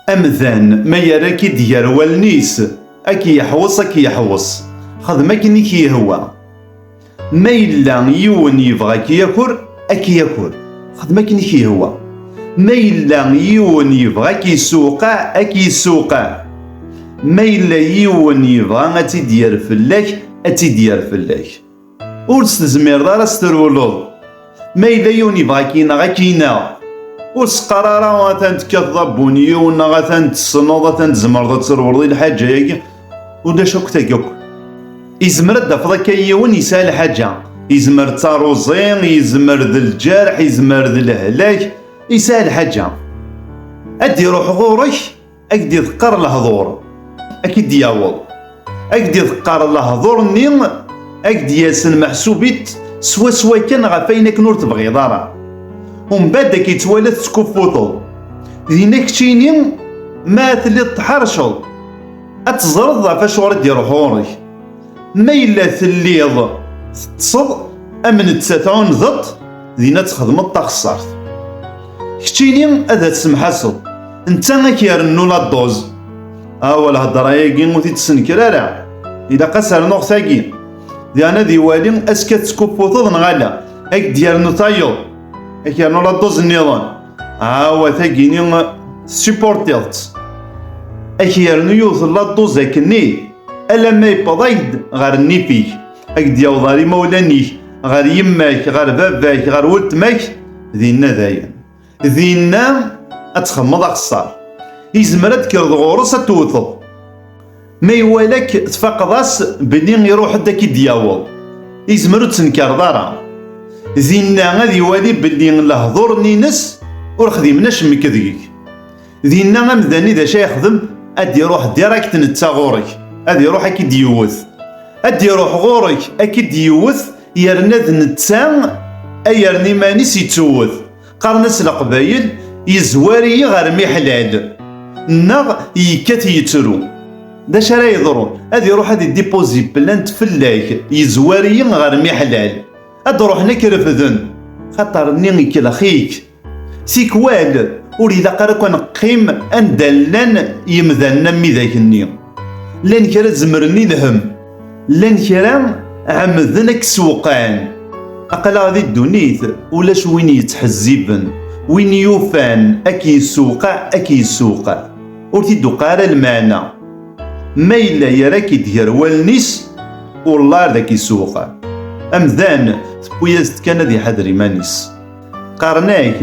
Amdan ma yerra-k-id gar wallen-is, a k-yeḥweṣ, a k-yeḥweṣ. Xdem akken i k-yehwa. Ma yella yiwen yebɣa a k-yaker, a k-yaker. Xdem akken i k-yehwa. Ma yella yiwen yebɣa a k-yessewqeɛ, a k-yessewqeɛ. Ma yella yiwen yebɣa ad tt-id-yerr fell-ak, ad tt-id-yerr fell-ak. Ur s-tezmireḍ ara ad s-trewleḍ. Ma yella yiwen yebɣa ad k-ineɣ, ad k-ineɣ. Ur s-qqar ara atan tekkateḍ abunyiw neɣ atan tessneḍ, atan tzemreḍ ad trewleḍ i lḥaǧa-agi. Ulac akk tagi akk. Izmer ad d-tafeḍ akka yiwen yesɛa lḥaǧa. Izmer d taruẓi, izmer d lǧerḥ, izmer d lehlak, yesɛa lḥaǧa. Ad d-iruḥ ɣur-k. Ad k-d-iḍeqqer lehdur, ad k-id-yaweḍ. Ad k-d-iḍeqqer lehdur-nni, ad k-d-yasen meḥsub-it swaswa kan ɣef ayen akken ur tebɣiḍ ara. Umbad ad k-ittwala tettkuffuteḍ. Dinna keččini, ma telliḍ tḥerceḍ, ad teẓreḍ ɣef acuɣer i d-iruḥ ɣur-k. Ma yella telliḍ teṭṭseḍ am netta tɛundeḍ dina txedmeḍ taxessart. Keččini ad as-semḥaseḍ, netta ad k-irennu la dduz. Awa lhedra-agi ur t-id-senker ara, ilaq ad s-rnuɣ tagi. Diɣen ad iwali aska tettkupputeḍ neɣ ala, ad k-d-yernu tayeḍ, ad k-yernu la dduz nniḍen. Awa tagini tessupportiḍ-tt, ad k-yernu yiwet la dduz akkenni. alamma yewweḍ-ak-d ɣer nnif-ik ad k-d-yaweḍ ɣer imawlan-ik ɣer yemma-k ɣer baba-k ɣer weltma-k dinna dayen dinna ad txemmeḍ axessar izmer ad d-kreḍ ɣur-s ad tewteḍ ma iwala-k tfaqeḍ-as belli iruḥ-d ad k-id-yaweḍ izmer ur tenkareḍ ara dinna ad iwali belli lehdur-nni-ines ur xdimen acemmek deg-k Dinna amdani d acu yexdem ad iruḥ direkt netta ɣur-k ad iruḥ ad k-id-yewwet ad iruḥ ɣur-k ad k-id-yewwet yerna d netta ay yerna iman-is yettewwet qqaren-as leqbayel yezwar-iyi ɣer miḥlal neɣ yekkat yettru d acu ara yeḍrun ad iruḥ ad idipozi plant fell-ak yezwar-iyi ɣer miḥlal ad ruḥen ad k-refden xaṭer-nni ikellex-ik Tikwal, ur ilaq ara akk ad neqqim anda llan yemdanen am widak-nni. Llan kra zemren i lhem, llan kra ɛemmden ad k-sewqɛen. Aql-aɣ di ddunit, ulac win yettḥezziben, win yufan ad k-yessewqeɛ, ad k-yessewqeɛ. Ur t-id-tuqiɛ ara lmeɛna. Ma yella yerra-k-id gar wallen-is, wellah ad k-yessewqeɛ. Amdan, tewwi-as-d kan ad iḥader iman-is. Qqaren-ak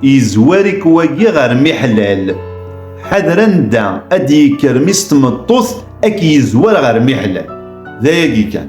yezwar-ik wagi ɣer miḥlal. Ḥader anda ad d-yekker mi s tmeṭṭut ad k-yezwar ɣer miḥlal. D ayagi kan.